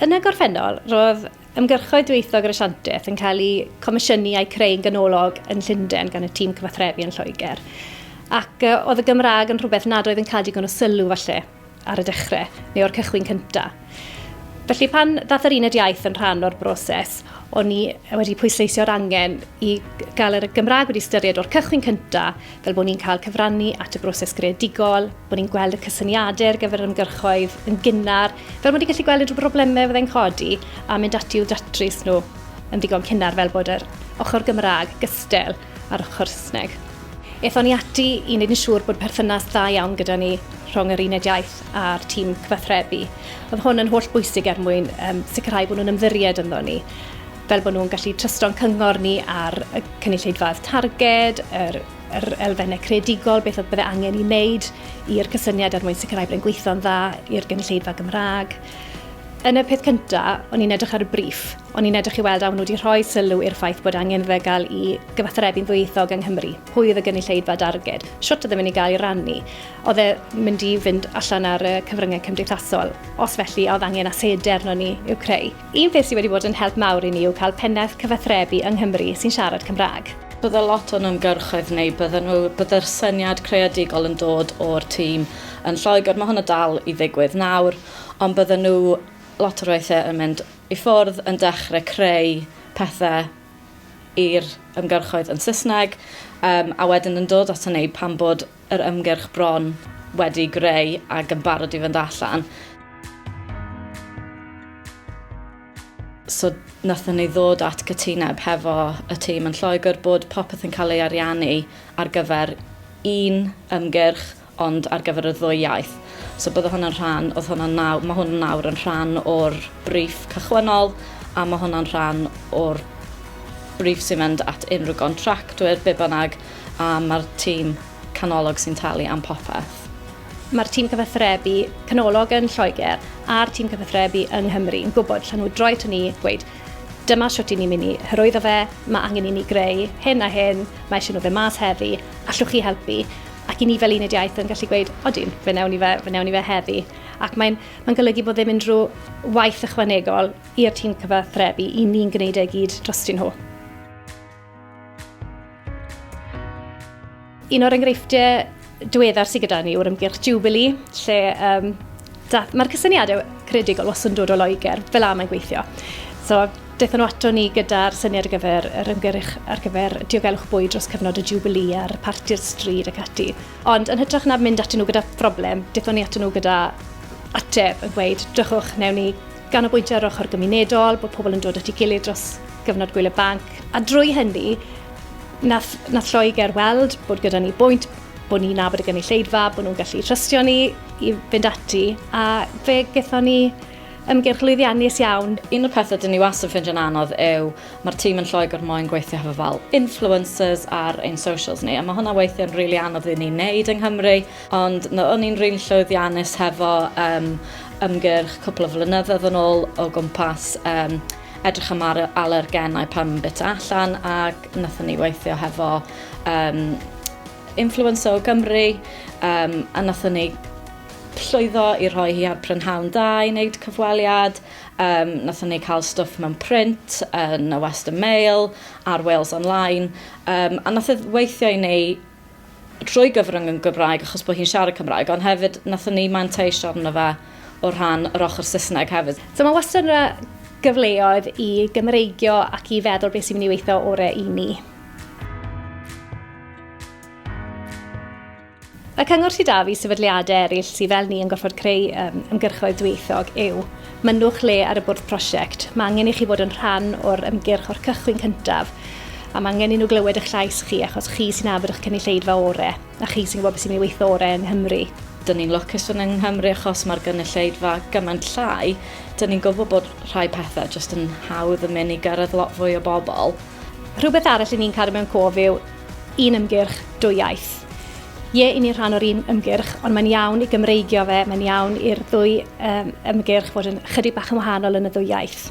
Yn y gorffennol, roedd ymgyrchoedd dwyieithog yr Asiantaeth yn cael eu comisiynu a'u creu'n ganolog yn Llundain gan y tîm cyfathrebu yn Lloegr, ac oedd y Gymraeg yn rhywbeth nad oedd yn cael digon o sylw, falle, ar y dechrau, neu o'r cychwyn cyntaf. Felly pan ddath yr uned iaith yn rhan o'r broses, o'n i wedi pwysleisio'r angen i gael yr Gymraeg wedi ystyried o'r cychwyn cynta, fel bod ni'n cael cyfrannu at y broses greadigol, bod ni'n gweld y cysyniadau ar gyfer yr ymgyrchoedd yn gynnar, fel bod ni'n gallu gweld unrhyw broblemau fyddai'n codi a mynd ati i'w datrys nhw yn ddigon cynnar fel bod yr ochr Gymraeg gystel â'r ochr Saesneg. Aethon ni ati i wneud yn siŵr bod perthynas dda iawn gyda ni rhwng yr uned iaith a'r tîm cyfathrebu. Oedd hwn yn holl bwysig er mwyn um, sicrhau bod nhw'n ymddiried ynddo ni fel bod nhw'n gallu trysto'n cyngor ni ar y cynulleidfaoedd targed, yr, yr elfennau creadigol, beth oedd bydde angen i wneud i'r cysyniad er mwyn sicrhau bod e'n gweithio'n dda i'r gynulleidfa Gymraeg. Yn y peth cyntaf, o'n i'n edrych ar y briff, o'n i'n edrych i weld a nhw wedi rhoi sylw i'r ffaith bod angen fe gael i gyfathrebu'n ddwyieithog yng Nghymru. Pwy oedd y gynulleidfa darged? Siwt oedd yn mynd i gael ei rannu? Oedd e mynd i fynd allan ar y cyfryngau cymdeithasol? Os felly, a oedd angen asedi arnon ni i'w creu? Un peth sydd wedi bod yn help mawr i ni yw cael pennaeth cyfathrebu yng Nghymru sy'n siarad Cymraeg. Bydde lot o'n ymgyrchoedd ni, bydden nhw, bydde'r syniad creadigol yn dod o'r tîm yn Lloegr, mae hwnna dal i ddigwydd nawr, ond bydden nhw lot o'r weithiau yn mynd i ffwrdd yn dechrau creu pethau i'r ymgyrchoedd yn Saesneg, um, a wedyn yn dod ato ni pan bod yr ymgyrch bron wedi greu ac yn barod i fynd allan. So nathon ni ddod at gytuneb hefo y tîm yn Lloegr bod popeth yn cael ei ariannu ar gyfer un ymgyrch ond ar gyfer y ddwy iaith. So bydde hwnna'n rhan, oedd hwnna'n nawr, mae hwn nawr yn rhan o'r briff cychwynnol a mae hwnna'n rhan o'r briff sy'n mynd at unrhyw gontractwyr, be bynnag, a mae'r tîm canolog sy'n talu am popeth. Mae'r tîm cyfathrebu canolog yn Lloegr a'r tîm cyfathrebu yng Nghymru yn gwybod llan nhw droi to ni, gweud dyma shwt i ni mynd i hyrwyddo fe, mae angen i ni greu hyn a hyn, mae eisiau nhw fe mas heddi, allwch chi helpu? Ac i ni fel uned iaith yn gallu gweud, odyn, fe newn ni fe, fe newn ni fe heddi. Ac mae'n mae golygu bod ddim unrhyw waith ychwanegol i'r tîm cyfathrebu, i ni'n gwneud e gyd drostyn nhw. Un o'r enghreifftiau diweddar sydd gyda ni yw'r ymgyrch Jubilee, lle um, mae'r cysyniadau credigol was yn dod o Loegr, fel am yn gweithio. So, Daethon nhw ato ni gyda'r syniad ar gyfer yr ymgyrch ar gyfer diogelwch bwyd dros cyfnod y Jubilee a'r parti'r stryd ac ati. Ond yn hytrach na mynd atyn nhw gyda phroblem, daethon ni atyn nhw gyda ateb yn gweud, drychwch, newn ni Ganolbwyntio ar ochr gymunedol, bod pobl yn dod at ei gilydd dros gyfnod gwyl y banc, a drwy hynny, nath, nath Lloegr weld bod gyda ni bwynt, bod ni'n nabod y gynulleidfa, bod nhw'n gallu trystio ni i fynd ati, a fe gython ni ymgyrch lwyddiannus iawn. Un o'r pethau dyn ni wastad yn ffindio'n anodd yw mae'r tîm yn Lloegr moyn gweithio hefo fel influencers ar ein socials ni, a mae hwnna weithiau'n rili really anodd i ni wneud yng Nghymru, Ond no, o'n i'n rili llwyddiannus hefo um, ymgyrch cwpl o flynyddoedd yn ôl o gwmpas um, edrych am ar alergenau pan yn bit allan ac nathon ni weithio hefo um, influencer o Gymru um, a nathon ni llwyddo i rhoi hi ar prynhawn da i wneud cyfweliad. Um, nathon ni cael stwff mewn print yn y Western Mail a'r Wales Online. Um, a nath e weithio i ni trwy gyfrwng yn Gymraeg achos bod hi'n siarad Cymraeg, ond hefyd nathon ni manteisio arno fe o rhan yr ochr Saesneg hefyd. So mae wastad yna gyfleoedd i Gymreigio ac i feddwl beth sy'n mynd i weithio orau i ni. Y cyngor sydd 'da fi sefydliadau eraill sydd fel ni yn gorfod creu ymgyrchoedd dwyieithog yw Mynnwch lle ar y bwrdd prosiect. Mae angen i chi fod yn rhan o'r ymgyrch o'r cychwyn cyntaf a mae angen i nhw glywed eich llais chi achos chi sy'n afr eich cynulleidfa orau a chi sy'n gwybod beth sy'n mynd i weithio orau yng Nghymru. Dyn ni'n lwcus fod yng Nghymru achos mae'r gynulleidfa gymaint llai, dyn ni'n gwybod bod rhai pethau jyst yn hawdd yn mynd i gyrraedd lot fwy o bobl. Rhywbeth arall i ni'n cadw mewn cof yw un ymgyrch, dwy iaith. Ie, i ni rhan o'r un ymgyrch, ond mae'n iawn i Gymreigio fe, mae'n iawn i'r ddwy um, ymgyrch fod yn chydig bach yn wahanol yn y ddwy iaith.